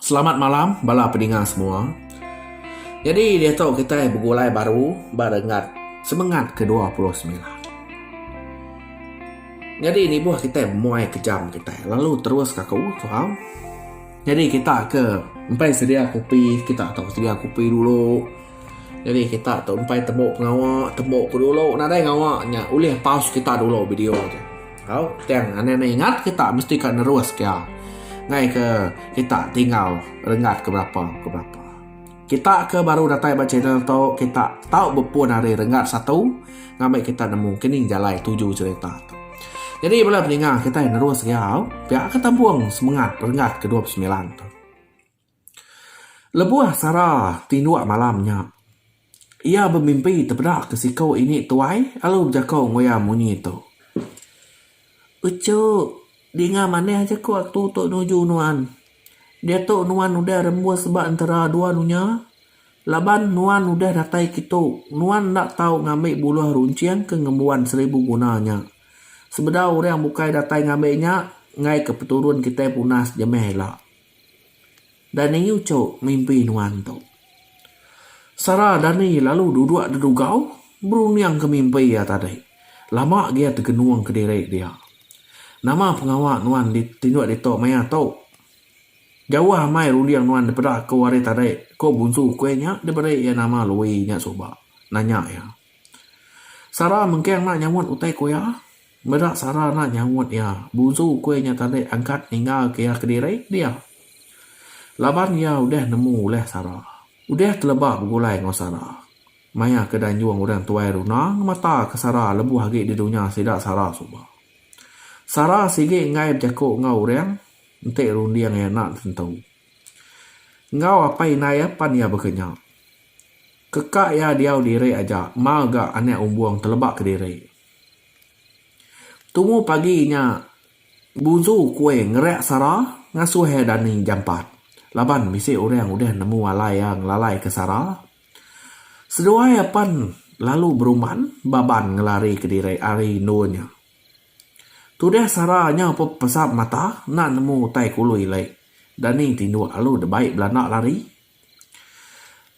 Selamat malam bala pedinga semua. Jadi diatu kitai begulai baru ba renggat semengat ke dua puluh semilan. Jadi nibuh kitai muai ke jam kitai lalu terus ka aku faham. Jadi kita ke empai sedia kopi kita tau sedia kopi dulu. Jadi kita tu empai tembu pengawa, tembu ke dulu nadai ngawa nya ulih pause kita dulu video tu. Tau, tang anang ne ingat kita mesti ka nerus kia ngai ke kita tinggal renggat ke berapa ke berapa. Kita ke baru datai ba channel tu kita tau bepun ari renggat satu ngambi kita nemu kini jalai tuju cherita tu. Jadi bala peningah kitai nerus gia tau pia ke tambung semengat renggat ke dua puluh semilan tu. Lebuh Sara tinduk malam nya, iya bemimpi tepeda ke siku ini tuai lalu bejako enggau iya munyi tu, Uchu, dinga manah aja ku aku tu nuju nuan. Diatu nuan udah rembus ba entera dua dunya laban nuan udah datai kitu. Nuan enda tau ngambi buluh runcing ke ngembuan seribu guna nya. Sebedau orang bukai datai ngambi nya, enggaika peturun kitai punas jemeh ila. Dani uco mimpi nuan tu. Sara Dani lalu duduk dedugau berunding ke mimpi iya tadi. Lama agi iya tegenung ke diri dia. Nama pengawa nuan tinduk ditu maya tu? Jauh amai runding nuan dipeda aku hari tadi, ku Bunsu Kuih nya diberi iya nama Lui nya suba, nanya iya. Sara mengking enda nyawut utai ku iya. Meda Sara enda nyaut iya, buzu ukui nya tadi angkat ninggalka iya kediri dia. Laban iya udah nemu ulih Sara. Udah teleba begulai enggau Sara. Maya ke danjung orang tuai Runa ngemataka Sara lebuh agi di dunya sida Sara suba. Sara sigi enggai bejaku enggau orang enti runding iya enda tentu. Enggau apai indai iya pan iya baka nya. Keka iya diau diri aja mau ga anak umbung teleba kediri. Tumu pagi nya, Buzu Kueng ngereak Sara ngasuh iya dani jampat laban bisi orang udah nemu alai iya ngelalaika Sara. Seduai iya pen lalu berumban ba ban ngelarika diri ari endur nya. Tudah Sara nyau pepesap mata enda nemu utai ke ulu ilek, dani tinduk lalu deba belanda lari.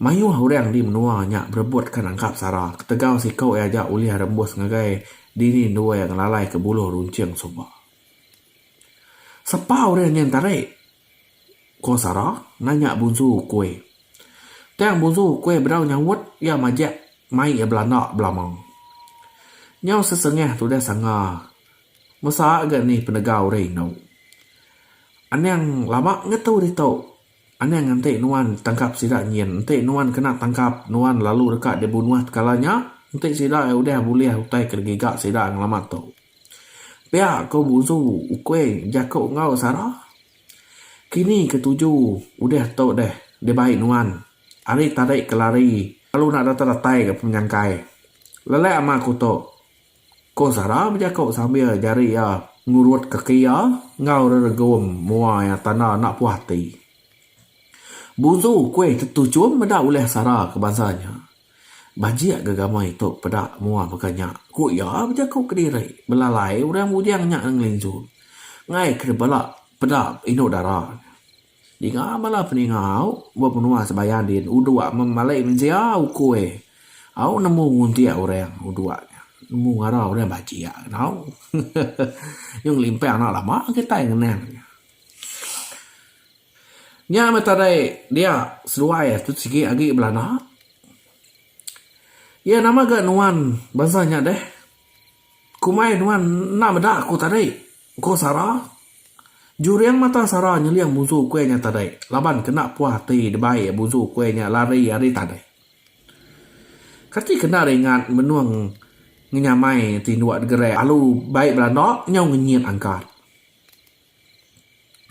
Mayuh orang di menua nya berebutka nangkap sara ketegal siko iya aja ulih rembus ngagai dini endur iya ngelalai ke buluh runcing suba. Sepa orang nyin tarik? ko sara nanya Bunsu Ukui. Tang Bunsu Ukui bedau nyaut iya majak mai iya belanda belama. Nyau sesengah tudah sanga mesa ga ni penegau orang indu. Anang lama ngetu ditu. Anang enti nuan tangkap sida nyin, enti nuan kena tangkap, nuan lalu deka dibunuh tekala nya, enti sida udah bulih utai ke digiga sida ngelamat tu. Pia ko Buzu Ukuing jako enggau Sara. Kini ke tuju udah tu deh dibai nuan. Ari tadi ke lari lalu enda datai-datai ga penyangkai. Lelak ama ko tu. Ko Sara bejako sambil jari iya ngurut kaki iya enggau reregum mua iya tanda enda puah ati. Buzu kuih tetu chum meda ulih Sara ke bansa nya. Bajik gegama itu peda mua baka nya, ku iya bejako kediri belalai orang bujang nya ngelinsu ngaika bala peda indu dara. Ninga bala peninga au ba menua Sebayang din udok memalai mensia ukoi au nemu nguntik orang udok nya nemu ngara orang bajik kenau nyau ngelimpang enda lama kitai ngenang nya. Nya meh tadai dia seduai tu sigi agi belanda iya nama ga nuan bansa nya deh kumbai nuan enda meda ku tadi. Ko Sara. Juring mata Sara nyeling bunsu ukui nya tadi laban kena puah ati debai bunsu ukui nya lari ari tadai. Kati kena ringat menung ngenyamai ti ndua degerak alu bai belanda nyau ngenyit angkat.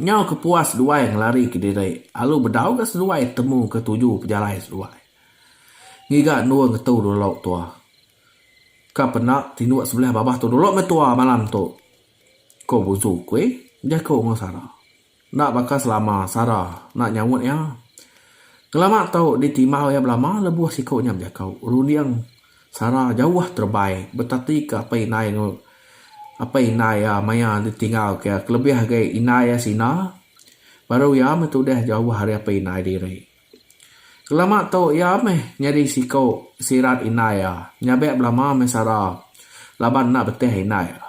Nyau ke puah seduai ngelari ke diri alu bedau ga seduai temu ke tuju pejalai seduai. Ngiga endur ngetu dulu tua. Ka pendak tinduk sebelah babah tu dulu meh tua malam tu, ko Buzu Kui bejaku enggau Sara. Enda baka selama Sara enda nyaut iya. Kelama tu ditimbau iya belama lebuh siku nya bejaku. Runding Sara jauh terebai betati ke apai indai enggau apai indai iya maya ditinggal ke iya kelebih agi indai iya sina baru iya meh tudah jauh ari apai indai diri. Kelama tu iya meh nyadi siku sirat indai iya nyabek belama meh sara laban enda betih indai iya.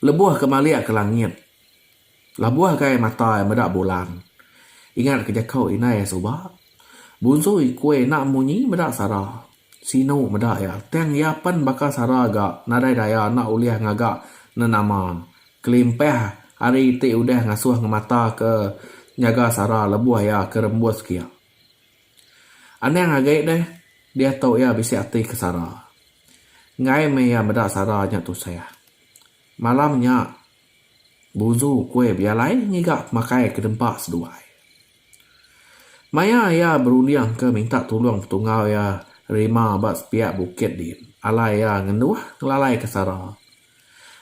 Lebuh ke malik ke langit labuh gai mata iya meda bulan ingat ke jaku indai iya suba bunsu ikui enda munyi meda sara. Sinu meda iya, tang iya pen baka sara ga nadai daya enda ulih ngaga nenama kelimpah ari ti udah ngasuh ngemata ke nyaga sara lebuh iya ke rembus kia. Anang agi deh diatu iya bisi ati ke sara. Enggai meh iya meda sara nya tusah. Malam nya Buzu kuih Bialai ngiga pemakai ke dempa seduai. Maya iya berundingka minta tulung petungau iya Rima ba sepiak bukit din, alai iya ngenduh ngelalai ke Sara.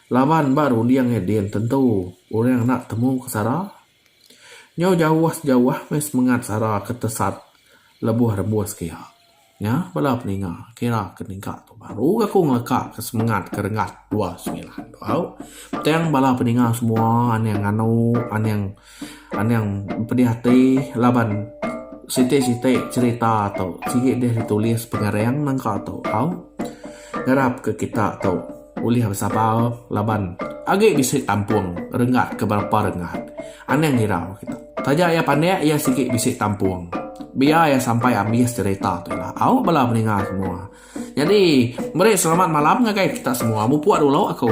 Laban ba runding iya din tentu orang enda temu ke Sara. Nyau jauh sejauh meh semengat Sara ke tesat lebuh rembus ke iya. Nya bala peninga kira ke ningka tu baru ga ku ngeleka ke semengat ke renggat dua semilan tu au. Tang bala peninga semua aning nganu aning aning pedih ati laban siti siti cherita tu sigi deh ditulis pengering nengka tu au. Ngarap ke kita tu. Ulih besabar laban agi bisi tampung renggat ke berapa renggat. Anang hirau kita. Taja iya pandik iya sigi bisi tampung. Biar iya sampai abis cerita tu ila. Au bala peninga semua. Nyadi meri selamat malam ngagai kita semua. Mupuk dulu aku.